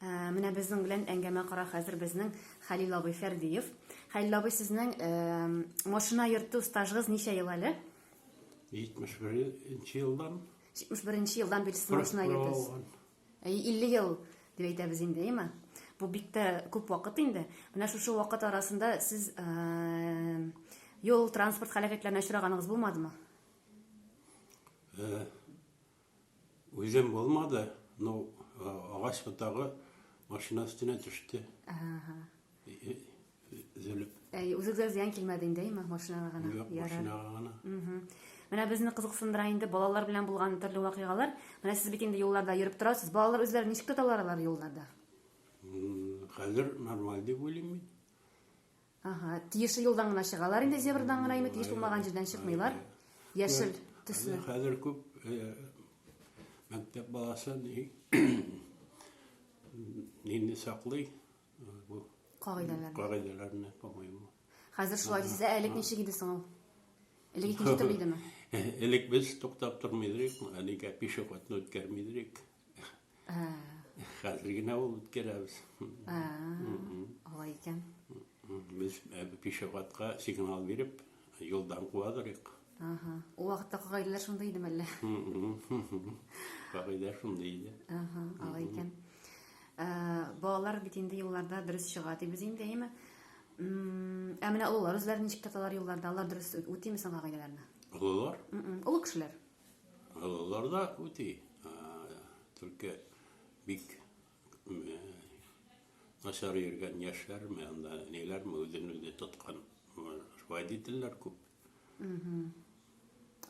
Ә, менә безнең белән әңгәмә кара хәзер безнең Хәлил абый Фәрдиев. Хәлил абый, сезнең ә, машина йөртү стажыгыз ничә ел әле? 71 елдан. 71 елдан бер машина йөртәсез. 50 ел дип әйтәбез инде, әйме? Бу бик тә күп вакыт инде. Менә шушы вакыт арасында сез ә, юл транспорт халәкәтләренә очраганыгыз булмадымы? Ә, Үзем булмады, но агач ботагы машина өстенә төште. Ага. Зөлеп. Әй, үзегезгә зыян килмәде инде, әйме, машинага гына. Юк, машинага гына. Менә безне кызыксындыра инде балалар белән булган төрле вакыйгалар. Менә сез бит инде юлларда йөреп торасыз. Балалар үзләрен ничек тоталар алар юлларда? Хәзер нормаль дип уйлыйм мин. Аһа, тиешле юлдан гына чыгалар инде, зебрадан гына инде, тиеш булмаган җирдән чыкмыйлар. Яшел төсле. Хәзер күп мәктәп баласы нинди саклый бу кагыйдәләрне. Кагыйдәләрне, по-моему. Хәзер шулай дисез, элек ничек иде соң ул? Элек икенче төрле идеме? Элек без туктап тормый идек, әлегә пешеходны үткәрми идек. Хәзер генә ул үткәрәбез. Алай икән. Без пешеходка сигнал биреп, юлдан куа торыйк. Ага. Ул вакытта кагыйдәләр шундый идеме әллә? Кагыйдә шундый иде. Ага, алай икән. Балалар бит инде юлларда дөрес чыга дибез инде, әйеме? Ә менә олылар үзләрен ничек тоталар юлларда? Алар дөрес үтиме соң кагыйдәләрне? Олылар? Олы кешеләр. Олылар да үти, только бик начар йөргән яшьләрме, анда ниләрме үзен үзе тоткан водительләр күп.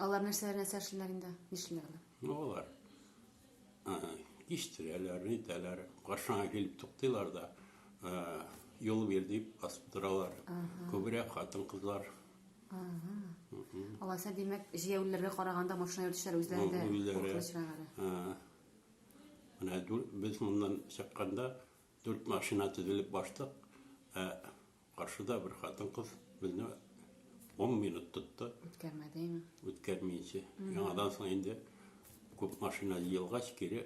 Алар нәрсәләр нәрсә эшлиләр инде? Нишлиләр алар? Ну, алар киштирәләр, нитәләр, каршыңа килеп туктыйлар да, юл бир дип басып торалар. Күбрәк хатын-кызлар Алайса, димәк, җәяүлеләргә караганда машина йөртүчеләр үзләре дә куркыныч Менә без моннан чыкканда дүрт машина тезелеп баштык, ә каршыда бер хатын-кыз безне 10 минут тотты. Үткәрмәдеме? Үткәрмичә. Яңадан соң инде күп машина җыелгач, кире